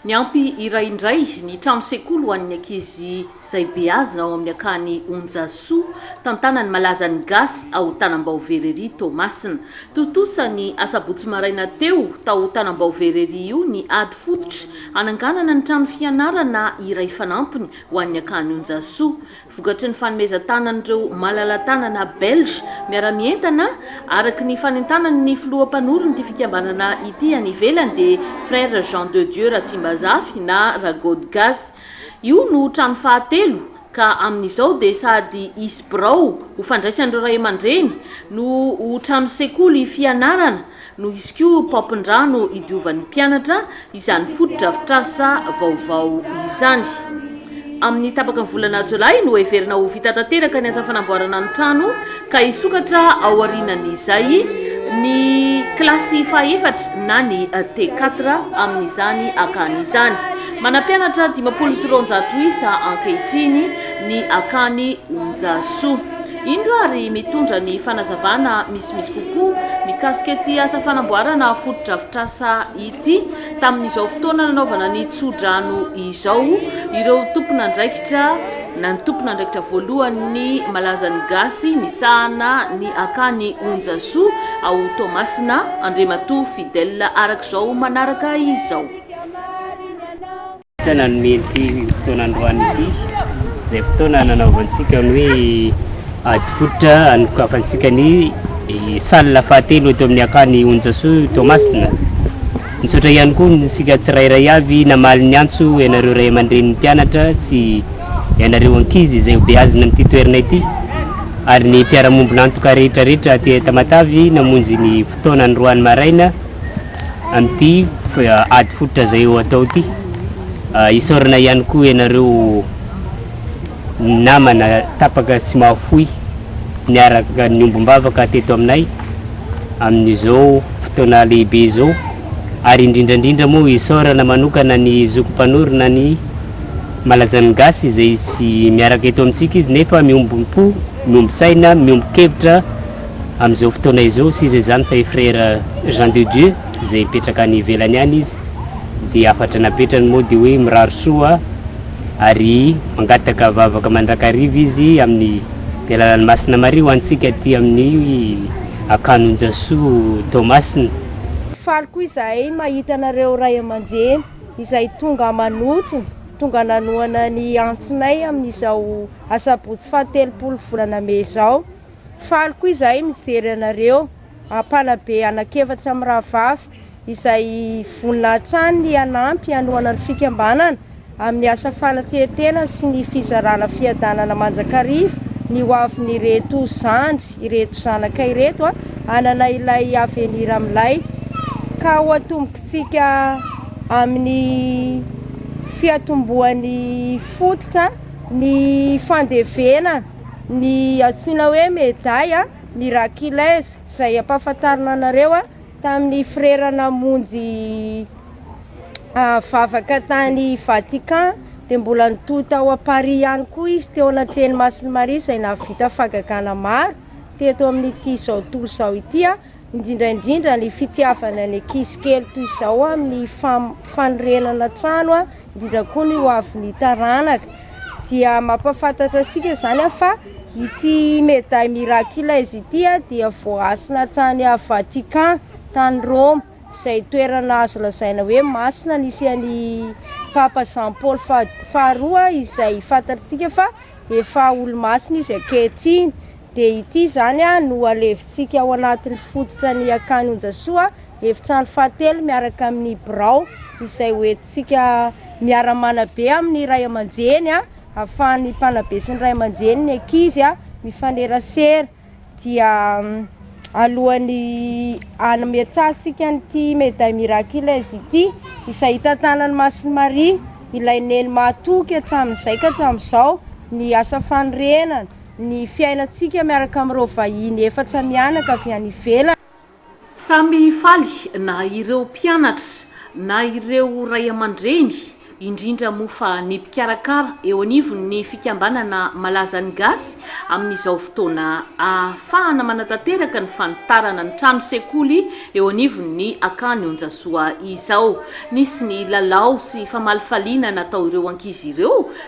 Niampy iray indray ny trano sekoly ho an'ny ankizy izay beazina ao amin'ny akany Onjasoa, tantanan'ny malazan'ny gasy ao Tanambaovera ery Toamasina. Tontosa ny asabotsy maraina teo tao Tanambaovera ery io ny ady fototra hananganana ny trano fianarana iray fanampiny ho an'ny akany Onjasoa. vokatry ny fanomezan-tanan'ireo malala-tanana belge miara-mientana, araka ny fanentanan'ny filoha mpanoron'ity fikambanana ity any ivelany, dia Frères Jean de Dieu Ratsimbazafy na Ragodgasy. Io no trano fahatelo ka amin'izao dia sady hisy birao ho fandraisan'ireo ray aman-dreny no ho trano sekoly fianarana, Noho izy koa paompin-drà no idiovan'ny mpianatra izany fotodrafitrasa vaovao izany. Amin'ny tapaky ny volana jolay no heverina ho vita tanteraka ny asa fanamboarana ny trano ka hisokatra aorianan'izay ny kilasy fahaefatra na ny T4 amin'izany akany izany. Manampianatra dimampolo sy roanjato isa ankehitriny ny akany Onjasoa. Indro ary mitondra ny fanazavana. Tsy misy kokoa mikasika ity asa fanamboarana fotodrafitrasa ity. Tamin'izao fotoana nanaovana ny tsodrano izao, ireo tompon'andraikitra na ny tompon'andraikitra voalohan'ny Malazan'ny Gasy misahana ny akany Onjasoa ao Toamasina, Andriamatoa Fidèle, araka izao manaraka izao. Tsy nanome ity fotoana androany ity izay fotoana nanaovantsika ny hoe ady fototra anokafantsika ny salle fahatelo eto amin'ny akany Onjasoa Toamasina. Misaotra ihany koa ny sika tsirairay avy namaly ny antso ianareo ray aman-drenin'ny mpianatra sy ianareo ankizy izay ho beazina amin'ity toerana ity ary ny mpiara-mombon'antoka rehetra rehetra aty Tamatavy namonjy ny fotoana androany maraina Amin'ity ady fototra izay ho atao ity, isaorana ihany koa ianareo namana tapaka sy mahafoy niaraka niombom-bavaka teto aminay amin'izao fotoana lehibe izao ary indrindra indrindra moa isaorana manokana ny zoky mpanorina ny Malazan'ny Gasy izay tsy miaraka eto amintsika izy nefa miombom-po, miombon-tsaina, miombon-kevitra. Amin'izao fotoana izao sisa izany fa i Frère Jean de Dieu izay mipetraka any ivelany any izy dia hafatra napetrany moa dia hoe mirary soa ary mangataka vavaka mandrakariva izy amin'ny ny alalan'i Masina Maria ho antsika aty amin'ny Ankanon-jasoa Toamasina. Faly koa izahay mahita anareo ray aman-dreny izay tonga manotrona, tonga nanohana ny antsinay amin'izao asabotsy fahatelopolo volana mey izao. Faly koa izahay mijery anareo mpanabe anak'efatra mirahavavy izay vonona hatrany ny hanampy hanohana ny fikambanana amin'ny asa fanatrehantena sy ny fizarana fiadanana mandrakariva ny hoavin'ireto zandry ireto zanaka ireto hanana ilay avenira milay ka ho atombontsika amin'ny fiatombohan'ny fototra ny fandevena ny antsoina hoe Medaille Miraculeuse izay ampahafantarina anareo tamin'ny frera namonjy vavaka tany Vatican dia mbola nitohy tao à Paris ihany koa izy teo anatrehan'i Masin'i Maria izay nahavita fahagagana maro teto amin'ity izao tontolo izao ity. indrindra indrindra ny fitiavana ny ankizy kely toy izao amin'ny fanorenana trano a indrindra koa ny ho avy ny taranaka dia mampafantatra antsika izany aho fa ity meday mirakila izy ity a dia voasina tany a vatikan tany roma izay toerana azo lazaina hoe masina nisy any papa jean paoly faharoa izay fantatsika fa Efa olo-masina izy ankehitriny, dia ity izany no alevintsika ao anatin'ny fototra ny akany Onjasoa, efitrano fahatelo miaraka amin'ny birao izay ho entintsika miara-manabe amin'ny ray aman-dreny, ahafahan'ny mpanabe sy ny ray aman-dreny ny ankizy mifanerasera. dia alohan'ny hametrahantsika an'ity Médaille Miraculeuse ity izay hitantanan'i Masin'i Maria ilay Neny mahatoky hatramin'izay ka hatramin'izao ny asa fanorenana, ny fiainantsika miaraka amin'ireo vahiny efatra mianaka avy any ivelany. Samy faly na ireo mpianatra na ireo ray aman-dreny, indrindra moa fa ny mpikarakara eo anivon'ny fikambanana malaza ny gasy amin'izao fotoana ahafahana manatanteraka ny fanitarana ny trano sekoly eo anivon'ny Akany Onjasoa izao. Nisy ny lalao sy famalifaliana natao ireo ankizy ireo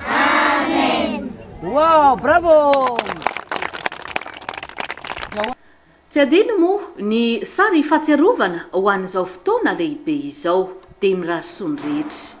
Amen. Wow, bravo! Tsy adino moa ny sary fahatsiarovana ho an'izao fotoana lehibe izao. Dia mirary soa ny rehetra.